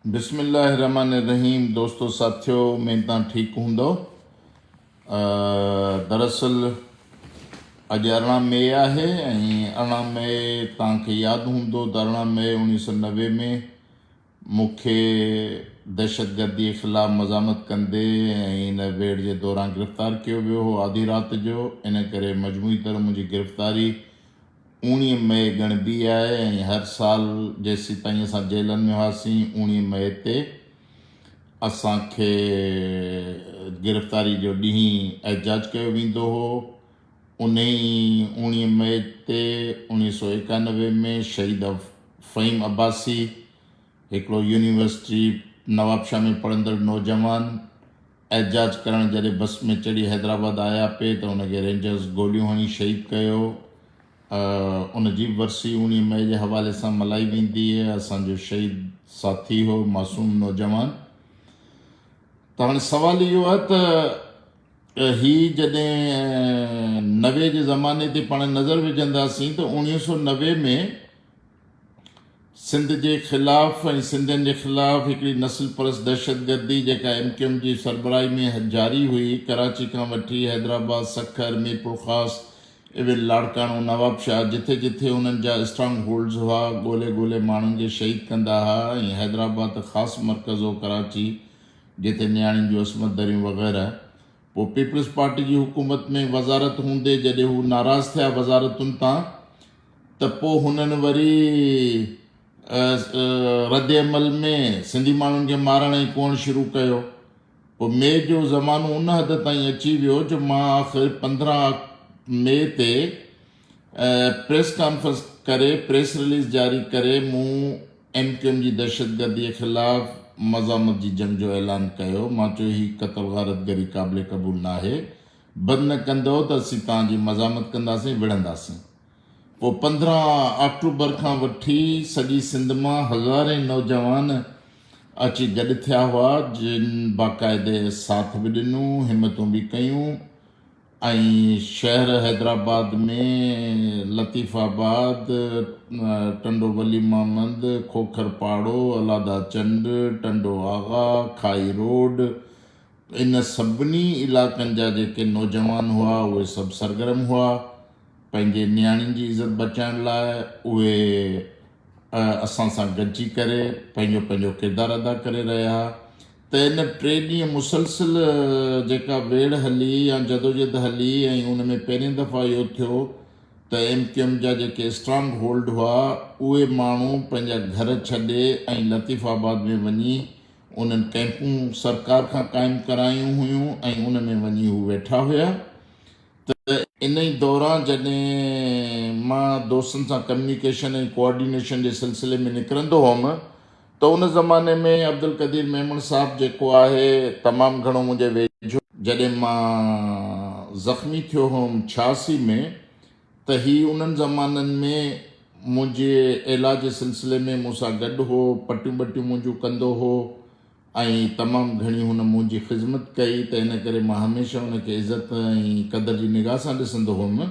بسم الله الرحمن الرحيم دوستو ساٿيو مين تان ٺيڪ هوندو دراصل اڄ ارڙهن مئي آهي ۽ ارڙهن مئي تان کي ياد هوندو ته ارڙهن مئي انيس سو نوي ۾ مون کي دهشتگردي خلاف مزاحمت ڪندي ۽ ان ويڙ جي دوران گرفتار ڪيو ويو هو آڌي رات جو ان ڪري مجموعي طرح منهنجي گرفتاري اوڻيهه مئي ڳڻبي آهي ۽ هر سال جيسيتائين اسان جيلن ۾ هئاسين اوڻيهه مئي تي اسان کي گرفتاري جو ڏينهن احجاج ڪيو ويندو هو انهي اوڻيهه مئي تي اوڻيهه سؤ ايڪانوي ۾ شهيد فهيم عباسي هڪڙو يونيورسٽي نوابشاهه ۾ پڙهندڙ نوجوان احتجاج ڪرڻ جڏهن بس ۾ چڙهي حيدرآباد آيا پي ته ان کي رينجرز گوليون هڻي شهيد ڪيو ۽ ان جي به ورسي اوڻيهه مئي جي حوالي سان ملهائي ويندي اسان جو شهيد ساٿي هو معصوم نوجوان ته هاڻي سوال اهو آهي ته هي جڏهن نوي جي زماني تي پاڻ نظر وجهنداسين ته اوڻيهه سؤ نوي ۾ سنڌ جي خلاف ۽ سنڌين جي خلاف هڪڙي نسل پرست دهشتگردي جيڪا ايم ڪيو ايم جي سربراهي ۾ جاري هئي ڪراچي کان وٺي حيدرآباد، سکر، ميرپورخاص ايون لاڙڪاڻو، نوابشاهه جٿي جٿي انهن جا اسٽرانگ هولڊز هئا ڳولي ڳولي ماڻهن جي شهيد ڪندا ها ۽ حيدرآباد ته خاص مرڪز هو ڪراچي جتي نياڻين جون عصمت دريون وغيره پوء پيپلز پارٽي جي حڪومت ۾ وزارت هوندي جڏهن هو ناراض ٿيا وزارتن تان ته پوء هنن وري رد عمل ۾ سنڌي ماڻهن کي مارڻ ۽ ڪوهڻ شروع ڪيو پوء مئي جو زمانو ان حد تائين اچي ويو جو مان آخر پندرهن مئي تي پريس ڪانفرنس ڪري پريس رليز جاري ڪري مون ايم ڪيو ايم جي دهشتگردي خلاف مزاحمت جي جنگ جو اعلان ڪيو مان چيو هي قتل غارت گري قابل قبول ناهي بند نه ڪندئو ته اسين توهان جي مزاحمت ڪنداسين وڙهنداسين پوء پندرهن آڪٽوبر کان وٺي سڄي سنڌ مان هزارين نوجوان اچي گڏ ٿيا هئا جن باقاعدي ساٿ به ڏنو همتون به ڪيون ۽ شهر حيدرآباد ۾ لطيف آباد، ٽنڊو ولي محمد، کوکر پاڙو، الادا چنڊ، ٽنڊو آغا، کاهي روڊ ان سڀني علاقن جا جيڪي نوجوان هئا اهي سڀ سرگرم هئا پنهنجي نياڻين جي عزت بچائڻ لاء اهي اسان سان گڏجي ڪري پنهنجو پنهنجو ڪردار ادا ڪري رهيا ته ان ٽي ڏينهن مسلسل جيڪا ويڙهه هلي يا جدوجهد هلي ۽ ان ۾ پهرين دفعا اهو ٿيو ته ايم ڪيو ايم جا جيڪي اسٽرانگ هولڊ هئا اهي ماڻهو پنهنجا گهر ڇڏي ۽ لطيف آباد ۾ وڃي انهن ڪئمپون سرڪار کان قائم ڪرايون هيون ۽ ان ۾ وڃي هو ويٺا هيا ته انهي دوران جڏهن مان دوستن سان ڪميونيڪيشن ۽ ڪوآرڊينيشن جي سلسلي ۾ نڪرندو هئم ته ان زماني ۾ عبدالقدير ميمڻ صاحب جيڪو آهي تمام گهڻو منهنجي ويجهو جڏهن مان زخمي ٿيو هئم ڇياسي ۾ ته هي انهن زمانن ۾ منهنجي عيلاج جي سلسلي ۾ مون سان گڏ هو پٽيون ٻٽيون منهنجون ڪندو هو ۽ تمام گهڻي هن منهنجي خذمت ڪئي ته ان ڪري مان هميشه ان کي عزت ۽ قدر جي نگاهه سان ڏسندو هئم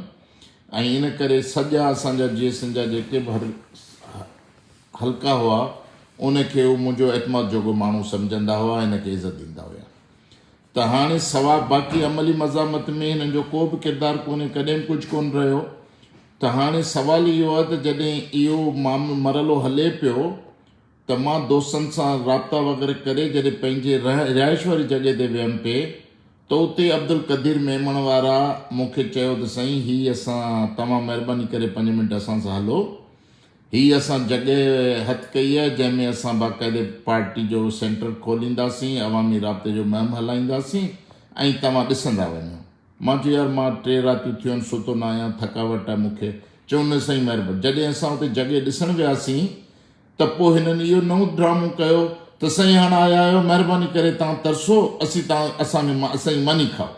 ۽ ان ڪري سڄا اسان جا جيئسن جا جيڪي به هر هلڪا هئا، ان کي هو منهنجو اعتماد جوڳو ماڻهو سمجهندا هئا ۽ هن کي عزت ڏيندا هيا ته هاڻي سواء باقي عملي مزاحمت ۾ هنن جو ڪو به ڪردار ڪونهي، ڪڏهن به ڪجهه ڪونه رهيو ته هاڻي سوال اهو آهي ته جڏهن اهو مرحلو هلي پيو ته مان دوستن سان رابطا وغيره ڪري جڏهن پنهنجي رهائش واري جڳهه تي ويم پئي ته اتي عبدالقدير ميمڻ وارا مون کي چيو ته سائين هي اسان توهان مهرباني ڪري پنج منٽ اسان سان هلو هي اسان جڳهه هٿ ڪئي آهي جنهن ۾ اسان باقاعدي پارٽي جو سينٽر کولينداسين، عوامي رابطي جو مهم هلائينداسين ۽ توهان ڏسندا وڃو. مان چيو يار مان ٽي راتيون ٿيون ستو نه آهيان ٿڪاوٽ آهي مون کي. چيو نه سائين مهرباني. جڏهن اسان اتي جڳهه ڏسڻ وياسين ته پوء هنن اهو نئون ڊرامو ڪيو ته سائين هاڻ آيا آهيو مهرباني ڪري توهان ترسو اسين توهان اسان کي اسان جي ماني کائو.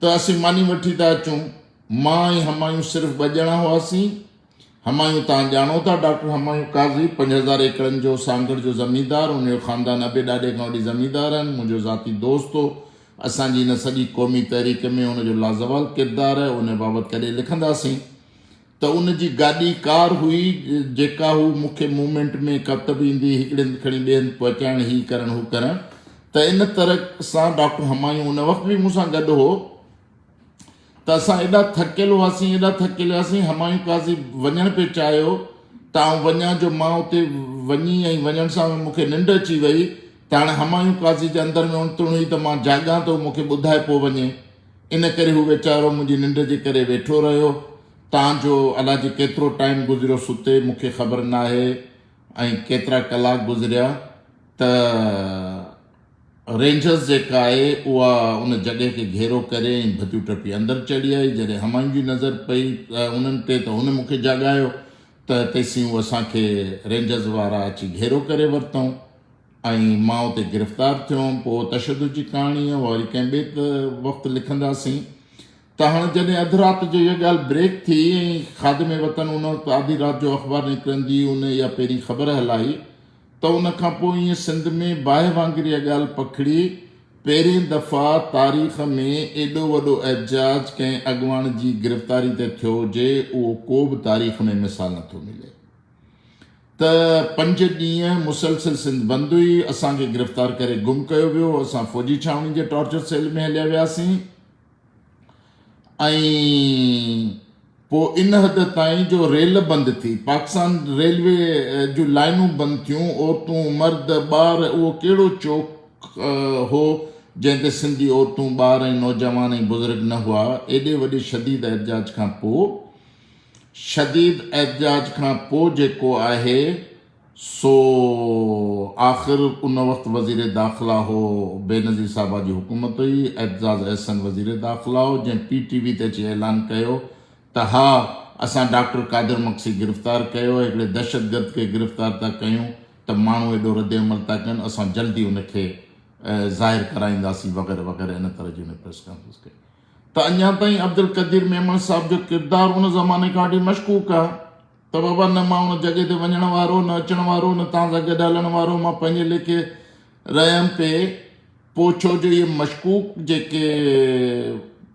ته اسين ماني وٺي ٿا اچون. مان ۽ همايون صرف ٻه ڄڻا هئاسين. همايون توهان ڄاڻو ٿا، ڊاڪٽر همايون قاضي، پنج هزار ايڪڙن جو سانگهڙ جو زميندار، ان جو خاندان ابي ڏاڏي کان وٺي زميندار آهن، منهنجو ذاتي دوست هو. اسان جي هن سڄي قومي تحريڪ ۾ هن جو لازوال ڪردار آهي، ان بابت ڪڏهن لکنداسين. ته ان جي گاڏي ڪار هئي جيڪا هو مون کي مومينٽ ۾ ڪت به ايندي هڪڙي هنڌ کڻي ٻئي هنڌ پهچائڻ هي ڪرڻ هو ڪرڻ ته ان طرح سان ڊاڪٽر همايون ان وقت به مون سان گڏ هو ته اسان ايڏا ٿڪيل هئاسين ايڏا ٿڪيل هئاسين همايون قاضي وڃڻ پئي چاهيو ته آئون وڃان جو مان اتي وڃي ۽ وڃڻ سان مون کي ننڊ اچي وئي ته هاڻي همايون قاضي جي اندر ۾ اڻتڻ هئي ته مان جاڳان ته هو مون کي ٻڌائي پوء وڃي ان ڪري هو ويچارو منهنجي ننڊ جي ڪري ويٺو رهيو تان جو الا جي ڪيترو ٽائيم گذريو ستي مون کي خبر ناهي ۽ ڪيترا ڪلاڪ گذريا ته رينجرز جيڪا آهي اها ان جڳهه کي گهيرو ڪري ۽ ڀتيون ٽپي اندر چڙهي آئي جڏهن همايون جي نظر پئي انهن تي ته هن مون کي جاڳايو ته تيسين هو اسان کي رينجرز وارا اچي گهيرو ڪري ورتائون ۽ مان اتي گرفتار ٿيو هئم پوء تشدد جي ڪهاڻي اها وري ڪنهن ٻئي وقت لکنداسين ته هاڻ جڏهن اڌ رات جو اها ڳالهه بريڪ ٿي ۽ خادم وطن ان وقت آڌي رات جو اخبار نڪرندي ان اها پهرين خبر هلائي ته ان کان پوء ائين سنڌ ۾ باهه وانگر اها ڳالهه پکڙي پهرين دفعا تاريخ ۾ ايڏو وڏو احتجاج ڪنهن اڳواڻ جي گرفتاري تي ٿيو هجي اهو ڪو به تاريخ ۾ مثال نٿو ملي ته پنج ڏينهن مسلسل سنڌ بند هئي، اسان کي گرفتار ڪري گم ڪيو ويو، اسان فوجي ڇانوڻي جي ٽارچر سيل ۾ هليا وياسين ۽ پوء ان حد تائين جو ريل بند ٿي، پاڪستان ريلوي جون لائينون بند ٿيون، عورتون، مرد، ٻار اهو ڪهڙو چوڪ هو جنهن تي سنڌي عورتون، ٻار ۽ نوجوان ۽ بزرگ نه هئا، ايڏي وڏي شديد احتجاج کان پوء. شديد احتجاج کان پوء جيڪو آهي سو آخر ان وقت وزير داخلا هو بينظير صاحبه جي حڪومت هئي اعتزاز احسن وزير داخلا هو جنهن پي ٽي وي تي اچي اعلان ڪيو ته ها اسان ڊاڪٽر قادر مگسي گرفتار ڪيو هڪڙي دهشتگرد کي گرفتار ٿا ڪيون ته ماڻهو ايڏو ردعمل ٿا ڪن اسان جلدي ان کي ظاهر ڪرائينداسين وغيره وغيره ان طرح جي ان پريس ڪانفرنس ڪئي ته اڃا تائين عبدالقدير ميمڻ صاحب جو ڪردار ان زماني کان وٺي مشڪوڪ آ ته بابا نه مان ان جڳهه تي وڃڻ وارو نه اچڻ وارو نه توهان سان گڏ هلڻ وارو مان پنهنجي ليکي رهيم پي پو ڇو جو اهي مشڪوڪ جيڪي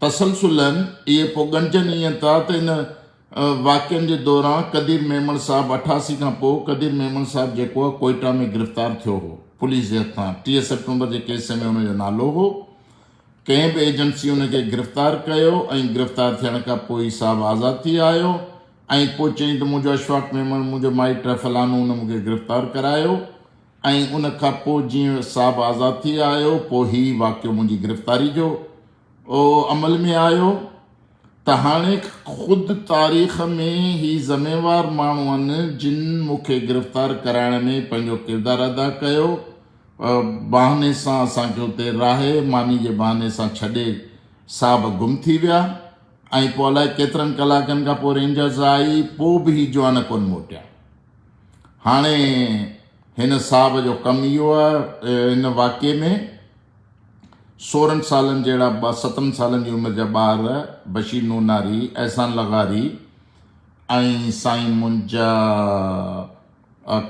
تسلسل آهن اهي پو ڳڻجن ائين ٿا ته ان واقعن جي دوران قدير ميمڻ صاحب اٺاسي کان پو قدير ميمڻ صاحب جيڪو آ ڪوئيٽا ۾ گرفتار ٿيو هو پوليس جي هٿان ٽيهه سيپٽمبر جي ڪيس ۾ ان جو نالو هو ڪنهن به ايجنسي ان کي گرفتار ڪيو ۽ گرفتار ٿيڻ کان پوء ئي صاحب آزاد ٿي آيو ۽ پوء چيائين ته منهنجو اشفاق ميمڻ منهنجو مائٽ آهي فلانو ان مون کي گرفتار ڪرايو ۽ ان کان پوء جيئن صاحب آزاد ٿي آيو پوء هي واقعو منهنجي گرفتاري جو عمل ۾ آيو ته هاڻي خود تاريخ ۾ هي ذميوار ماڻهو آهن جن مون کي گرفتار ڪرائڻ ۾ پنهنجو ڪردار ادا ڪيو بهاني سان اسان کي اتي راهي ماني جي بهاني سان ڇڏي صاحب گم ٿي ويا ۽ پوء الائي ڪيترن ڪلاڪن کان پوء رينجرز آئي پوء به هي جوان ڪونه موٽيا هاڻي هن صاحب جو ڪم اهو آهي ان واقعي ۾ سورهن سالن جهڙا ٻه ستن سالن جي عمر جا ٻار بشير نوناري احسان لغاري ۽ سائين منجا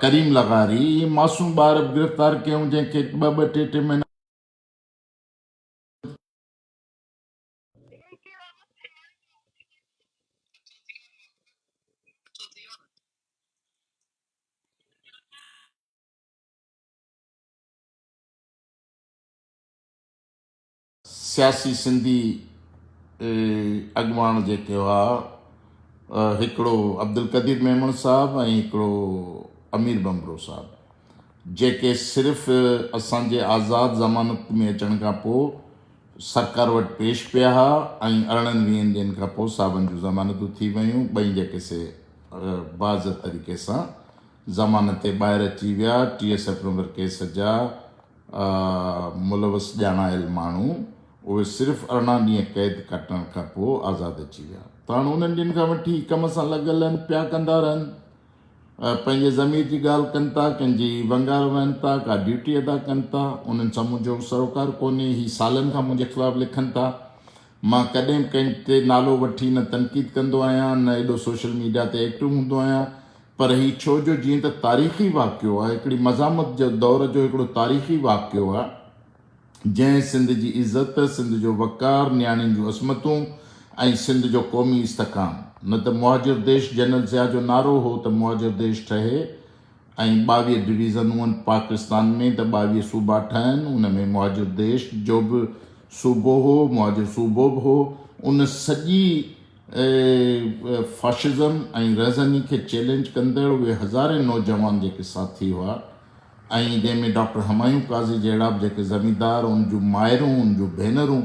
ڪريم لغاري اهي معصوم ٻار به گرفتار ڪيون جنهن کي ٻه ٻه ٽي ٽي مهينا سياسي سنڌي اڳواڻ جيڪي هئا هڪڙو عبدالقدير ميمڻ صاحب ۽ هڪڙو امير ڀنڀرو صاحب جيڪي صرف اسان جي آزاد ضمانت ۾ اچڻ کان پوء سرڪار وٽ پيش پيا ها ۽ ارڙهن ويهن ڏينهن کان پوء صاحبن جون ضمانتون ٿي ويون ٻئي جيڪي سي باضت طريقي سان ضمانت تي ٻاهر اچي ويا T S F number case جا ملوث ڄاڻايل ماڻهو اهي صرف ارڙهن ڏينهن قيد ڪٽڻ کان پوء آزاد اچي ويا ته هاڻ انهن ڏينهن کان وٺي ڪم سان لڳل آهن پيا ڪندا رهن پنهنجي ضمير جي ڳالهه ڪن ٿا ڪن جي ونگار وهن ٿا ڪا ڊيوٽي ادا ڪن ٿا انهن سان منهنجو سروڪار ڪونهي هي سالن کان منهنجي خلاف لکن ٿا مان ڪڏهن به ڪنهن تي نالو وٺي نه تنقيد ڪندو آهيان نه ايڏو سوشل ميڊيا تي ايڪٽو هوندو آهيان پر هي ڇو جو جيئن ته تاريخي واقعو آهي هڪڙي مزاحمت جو دور جو هڪڙو تاريخي واقعو آهي جنهن سنڌ جي عزت سنڌ جو وقار نياڻين جون عصمتون ۽ سنڌ جو قومي استحڪام نه ته مهاجر ديش جنرل ضياء جو نعرو هو ته مهاجر ديش ٺهي ۽ ٻاويهه ڊويزن هئن پاڪستان ۾ ته ٻاويهه صوبا ٺهن ان ۾ مهاجر ديش جو به صوبو هو مهاجر صوبو به هو ان سڄي فاشزم ۽ رهزني کي چئلينج ڪندڙ اهي هزارين نوجوان جيڪي ساٿي هئا ۽ جنهن ۾ ڊاڪٽر همايون قاضي جهڙا به جيڪي زميندار ان جون مائرون ان جون ڀينرون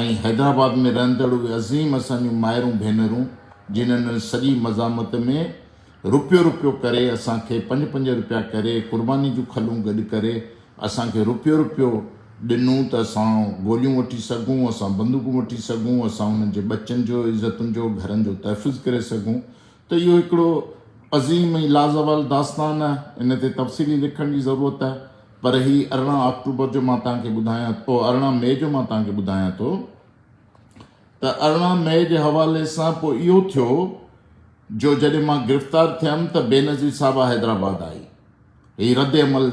۽ حيدرآباد ۾ رهندڙ اهي عظيم اسان جون مائرون ڀينرون جنهن ان سڄي مزاحمت ۾ رپيو رپيو ڪري اسان کي پنج پنج رپيا ڪري قرباني جون کلون گڏ ڪري اسان کي رپيو رپيو ڏنون ته اسان گوليون وٺي سگهون اسان بندوقون وٺي سگهون اسان انهن جي ٻچن جو عزتن جو گهرن جو تحفظ ڪري سگهون ته اهو هڪڙو عظيم ۽ لازوال داستان آهي ان تي تفصيلي لکڻ جي ضرورت آهي پر هي ارڙهن آڪٽوبر جو مان توهان کي ٻڌايان او ارڙهن مئي جو مان توهان کي ٻڌايان ٿو ته ارڙهن مئي جي حوالي سان پوء اهو ٿيو جو جڏهن مان گرفتار ٿيم ته بينظير صاحبه حيدرآباد آئي. هي رد عمل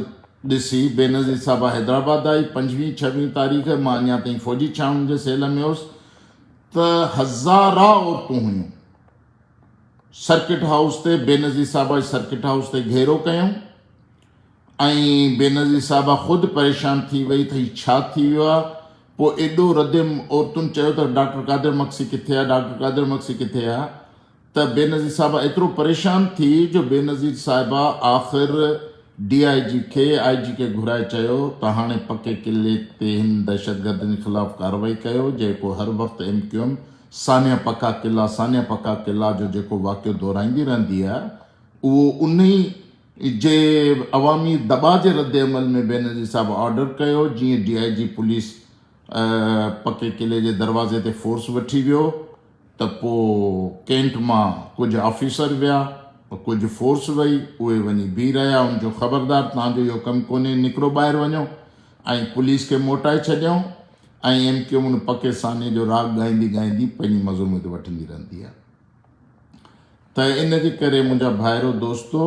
ڏسي بينظير صاحبه حيدرآباد آئي. پنجويهه ڇويهه تاريخ مان اڃا تائين فوجي ڇانوڻين جي سيل ۾ هوس ته هزارها عورتون هيون. سرڪٽ هائوس تي بينظير صاحبه جي سرڪٽ هائوس تي گهيرو ڪيائون. ۽ بينظير صاحبه خود پريشان ٿي وئي ته هي ڇا ٿي ويو آهي؟ پوء ايڏو رديم عورتن چيو ته ڊاڪٽر قادر مگسي ڪٿي آهي؟ ڊاڪٽر قادر مگسي ڪٿي آهي؟ ته بينظير صاحبه ايترو پريشان ٿي جو بينظير صاحبه آخر ڊي آء جي کي آء جي کي گهرائي چيو ته هاڻي پڪي قلعي تي هن دهشتگردن خلاف ڪارروائي ڪيو جيڪو هر وقت ايم ڪيو ايم سانحه پڪا قلعه سانحه پڪا قلعه جو جيڪو واقعو دهرائيندي رهندي آهي اهو انهي جي عوامي دٻاء جي ردعمل ۾ بينظير صاحب آرڊر ڪيو جيئن ڊي آء جي پوليس پڪي قلعي جي دروازي تي فورس وٺي ويو ته پوء ڪينٽ مان ڪجهه آفيسر ويا ڪجهه فورس وئي اهي وڃي بيهي رهيا ان جو خبردار تهان جو اهو ڪم ڪونهي نڪرو ٻاهر وڃو ۽ پوليس کي موٽائي ڇڏيائون ۽ ايم ڪيو ان پڪي سانحي جو راڳ ڳائيندي ڳائيندي پنهنجي مزو مت وٺندي رهندي آهي ته ان جي ڪري منهنجا ڀائرو دوستو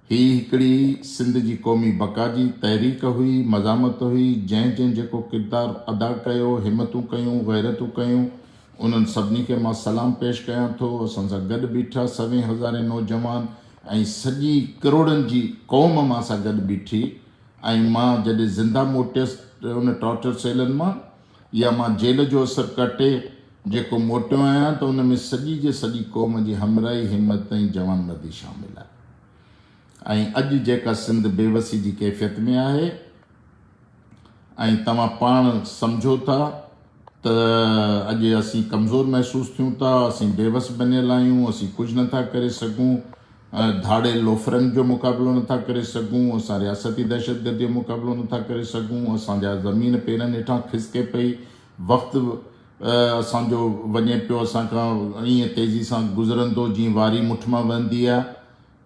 هي هڪڙي سنڌ جي قومي بقا جي تحريڪ هئي، مزاحمت هئي، جنهن جنهن جيڪو ڪردار ادا ڪيو، همتون ڪيون، غيرتون ڪيون، انهن سڀني کي مان سلام پيش ڪيان ٿو، اسان سان گڏ بيٺا سوين هزارين نوجوان ۽ سڄي ڪروڙن جي قوم مان سان گڏ بيٺي ۽ مان جڏهن زنده موٽيس ان ٽارچر سيلن مان، يا مان جيل جو اسر ڪٽي جيڪو موٽيو آهيان ته ان ۾ سڄي جي سڄي قوم جي همراهي، همت ۽ جوانمردي شامل آهي ۽ اڄ جيڪا سنڌ بيوسي جي ڪيفيت ۾ آهي ۽ توهان پاڻ سمجهو ٿا ته اڄ اسين ڪمزور محسوس ٿيون ٿا، اسين بيوس بنيل آهيون، اسين ڪجهه نه ٿا ڪري سگهون، ڌاڙيل لوفرن جو مقابلو نٿا ڪري سگهون، اسان رياستي دهشتگرديء جو مقابلو نٿا ڪري سگهون، اسان جا زمين پيرن هيٺان کسڪي پئي، وقت اسان جو وڃي پيو اسان کان ائين تيزي سان گذرندو جيئن واري مٺ مان وهندي آهي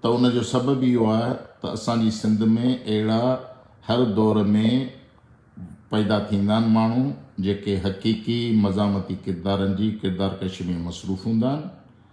ته ان جو سبب اهو آهي ته اسان جي سنڌ ۾ اهڙا هر دور ۾ پيدا ٿيندا آهن ماڻهو جيڪي حقيقي مزاحمتي ڪردارن جي ڪردارڪشي ۾ مصروف هوندا آهن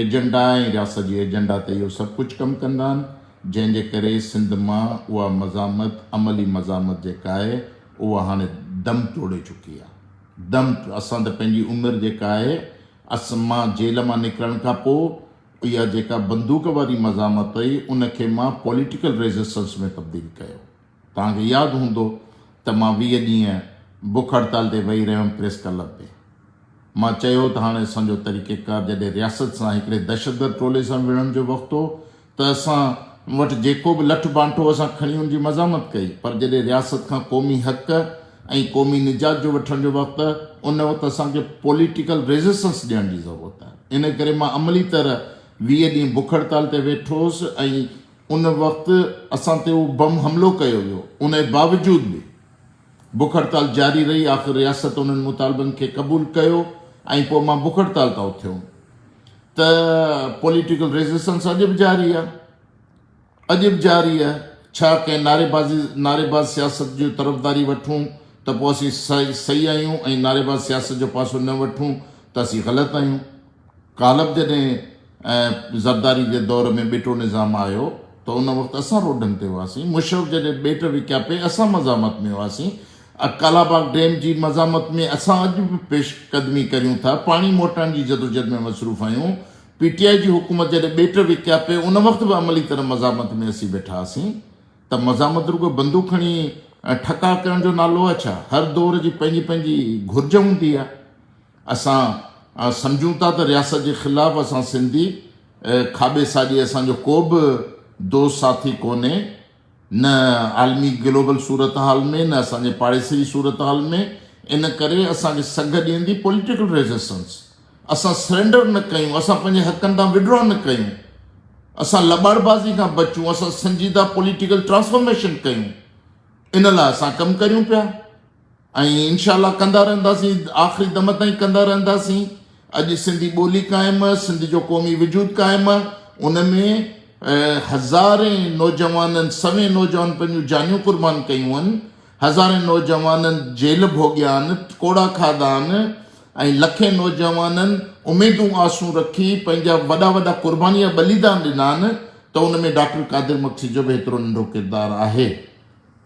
ايجنڊا ۽ رياست جي ايجنڊا تي اهو سڀ ڪجهه ڪم ڪندا آهن، جنهن جي ڪري سنڌ مان اها مزاحمت عملي مزاحمت جيڪا آهي اها هاڻي دم توڙي چڪي آهي. دم اسان ته پنهنجي عمر جيڪا آهي اسان مان جيل مان نڪرڻ کان پوء اها جيڪا بندوق واري مزاحمت هئي ان کي مان پوليٽيڪل ريزسٽنس ۾ تبديل ڪيو. توهان کي ياد هوندو ته مان ويهه ڏينهن بک هڙتال تي ويهي رهيو هيم پريس ڪلب ۾. مان چيو هو ته هاڻي اسان جو طريقيڪار جڏهن رياست سان هڪڙي دهشتگرد ٽولي سان وڙهڻ جو وقت هو ته اسان وٽ جيڪو به لٺ بانٺ هو اسان کڻي ان جي مزاحمت ڪئي پر جڏهن رياست کان قومي حق ۽ قومي نجات جو وٺڻ جو وقت ته ان وقت اسان کي پوليٽيڪل ريزسٽنس ڏيڻ جي ضرورت آهي. ان ڪري مان عملي طرح ويهه ڏينهن بک هڙتال تي ويٺو هوس ۽ ان وقت اسان تي اهو بم حملو ڪيو ويو، انهي باوجود به بک هڙتال جاري رهي، آخر رياست انهن مطالبن کي قبول ڪيو ۽ پوء مان بک هڙتال تان اٿيوم ته پوليٽيڪل ريزسٽنس اڄ به جاري آهي اڄ به جاري آهي ڇا ڪنهن نعريبازي نعريباز سياست جي طرفداري وٺون ته پوء اسين صحيح آهيون ۽ نعريباز سياست جو پاسو نه وٺون ته اسين غلط آهيون. غالب جڏهن زرداري جي دور ۾ ٻيٽو نظام آيو ته ان وقت اسان روڊن تي هئاسين، مشرف جڏهن ٻيٽ وڪيا پئي اسان مزاحمت ۾ هئاسين، ڪالاباغ ڊيم جي مزاحمت ۾ اسان اڄ به پيش قدمي ڪريون ٿا، پاڻي موٽائڻ جي جدوجھد ۾ مصروف آهيون، پي ٽي آء جي حڪومت جڏهن ٻيٽ وڪيا پئي ان وقت به عملي طرح مزاحمت ۾ اسين ويٺا هئاسين ته مزاحمت رڳو بندوق کڻي ٺڪاء ڪرڻ جو نالو آهي ڇا؟ هر دور جي پنهنجي پنهنجي گھرج هوندي آهي. اسان سمجهون ٿا ته رياست جي خلاف اسان سنڌي کاٻي ساڄي اسان جو ڪو به دوست ساٿي ڪونهي نه عالمي گلوبل صورتحال ۾ نه اسان جي پاڙيسري جي صورتحال ۾ ان ڪري اسان کي سگهه ڏيندي پوليٽيڪل ريزسٽنس اسان سرينڊر نه ڪيون اسان پنهنجي حقن تان وڊرا نه ڪيون اسان لٻاڙبازي کان بچون اسان سنجيده پوليٽيڪل ٽرانسفارميشن ڪيون ان لاء اسان ڪم ڪريون پيا ۽ انشاء الله ڪندا رهنداسين آخري دم تائين ڪندا رهنداسين اڄ سنڌي ٻولي قائم سنڌ جو قومي وجود قائم ان ۾ هزارين نوجوانن سوين نوجوان پنهنجون جانيون قربان ڪيون آهن هزارين نوجوانن جيل ڀوڳيا آهن ڪوڙا کاڌا آهن ۽ لکين نوجوانن اميدون آسون رکي پنهنجا وڏا وڏا قرباني جا ٻليدان ڏنا آهن ته ان ۾ ڊاڪٽر قادر مگسي جو به ايترو ننڍو ڪردار آهي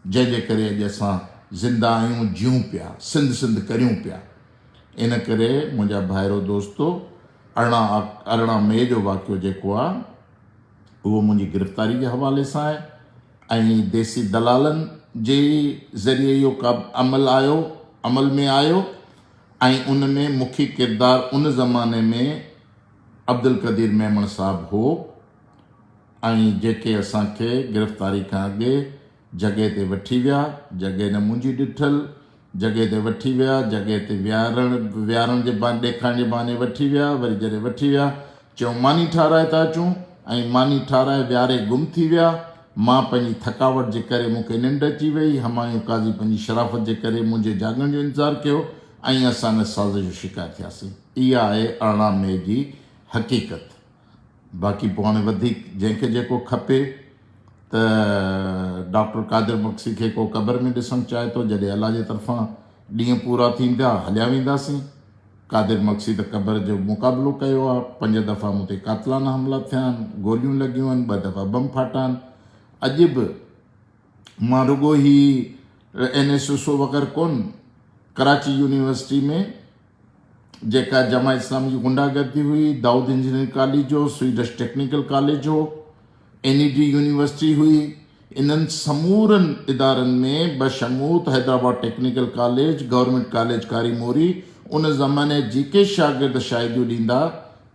جنهن جي ڪري اڄ اسان زنده آهيون، جيون پيا، سنڌ سنڌ ڪريون پيا. ان ڪري منهنجا ڀائرو دوستو ارڙهن آ ارڙهن مئي جو واقعو جيڪو آ اهو منهنجي گرفتاري جي حوالي سان آهي ۽ ديسي دلالن جي ئي ذريعي اهو ڪب عمل آيو عمل ۾ آيو ۽ ان ۾ مکي ڪردار ان زماني ۾ عبدالقدير ميمڻ صاحب هو. ۽ جيڪي اسان کي گرفتاري کان اڳي جڳهه تي وٺي ويا، جڳهه نه منهنجي ڏٺل، جڳهه تي وٺي ويا، جڳهه تي ويهارڻ ويهارڻ جي بهاني ڏيکارڻ جي بهاني وٺي ويا، وري جڏهن وٺي ويا، چيو ماني ٺاهرائي ٿا اچون ۽ ماني ٺاهرائي ويهاري گم ٿي ويا، مان پنهنجي ٿڪاوٽ جي ڪري مون کي ننڊ اچي وئي، همايون قاضي پنهنجي شرافت جي ڪري منهنجي جاڳڻ جو انتظار ڪيو ۽ اسان ان سازش جو شڪار ٿياسين. اها آهي ارڙهن مئي جي حقيقت. باقي پوء هاڻي وڌيڪ جنهن کي جيڪو کپي ته ڊاڪٽر قادر بخشي کي ڪو قبر ۾ ڏسڻ چاهي ٿو جڏهن الله جي طرفان ڏينهن پورا ٿيندا هليا وينداسين قادر بخشي ته قبر جو مقابلو ڪيو آهي پنج دفعا مون تي قاتلانه حملا ٿيا آهن گوليون لڳيون آهن ٻه دفعا بم ڦاٽا آهن اڄ به مان رڳو هي اين ايس او سو وغيره ڪون ڪراچي يونيورسٽي ۾ جيڪا جماعت اسلامي جي غنڊا گردي هئي، دائود انجنيئرنگ ڪاليج هو، سوئيڊش ٽيڪنيڪل ڪاليج هو، اين اي ڊي يونيورسٽي هئي، انهن سمورن ادارن ۾ بشموت Hyderabad technical college, government college Kari Mori, ان زماني جيڪي شاگرد شاهديون ڏيندا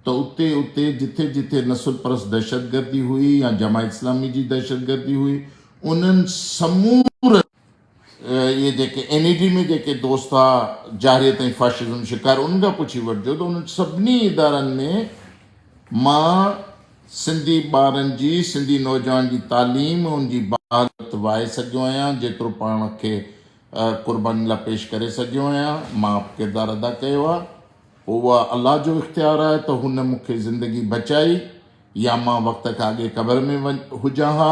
ته اتي اتي جٿي جٿي نسل پرست دهشتگردي هئي يا جماعت اسلامي جي دهشتگردي هئي، انهن سمورن. اهي جيڪي اين اي ڊي ۾ جيڪي دوست ٿا جارحيت ۽ فاشزم شڪار انهن کان پڇي وٺجو ته انهن سڀني ادارن ۾ مان سنڌي ٻارن جي سنڌي نوجوان جي تعليم ۽ ان جي بحالت وائي سگهيو آهيان جيترو پاڻ کي قرباني لاء پيش ڪري سگهيو آهيان مان به ڪردار ادا ڪيو آهي اهو الله جو اختيار آهي ته هن مون کي زندگي بچائي يا مان وقت کان اڳي قبر ۾ هجان ها،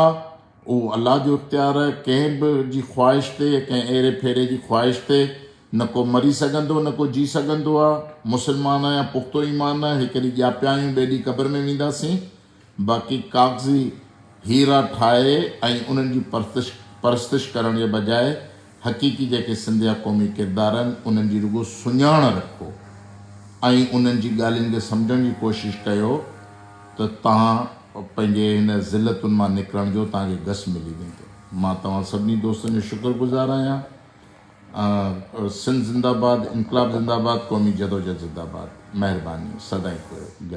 اهو الله جو اختيار آهي، ڪنهن به جي خواهش تي، ڪنهن ايري ڦيري جي خواهش تي نه ڪو مري سگهندو نه ڪو جي سگهندو آهي، مسلمان آهيان پختو ايمان آهي، هڪ ڏينهن ڄاپيا آهيون ٻئي ڏينهن قبر ۾ وينداسين، باقي ڪاغذي هيرا ٺاهي ۽ انهن جي پرستش ڪرڻ جي بجاء حقيقي جيڪي سنڌ جا قومي ڪردار آهن انهن جي رڳو سڃاڻ رکو ۽ انهن جي ڳالهين کي سمجهڻ جي ڪوشش ڪيو ته توهان پنهنجي هن ذلتن مان نڪرڻ جو توهان کي گس ملي ويندو. مان توهان سڀني دوستن جو شڪر گذار آهيان. سنڌ زنده باد انقلاب زنده باد قومي جدوجھد زنده باد مهرباني سدائين گڏ.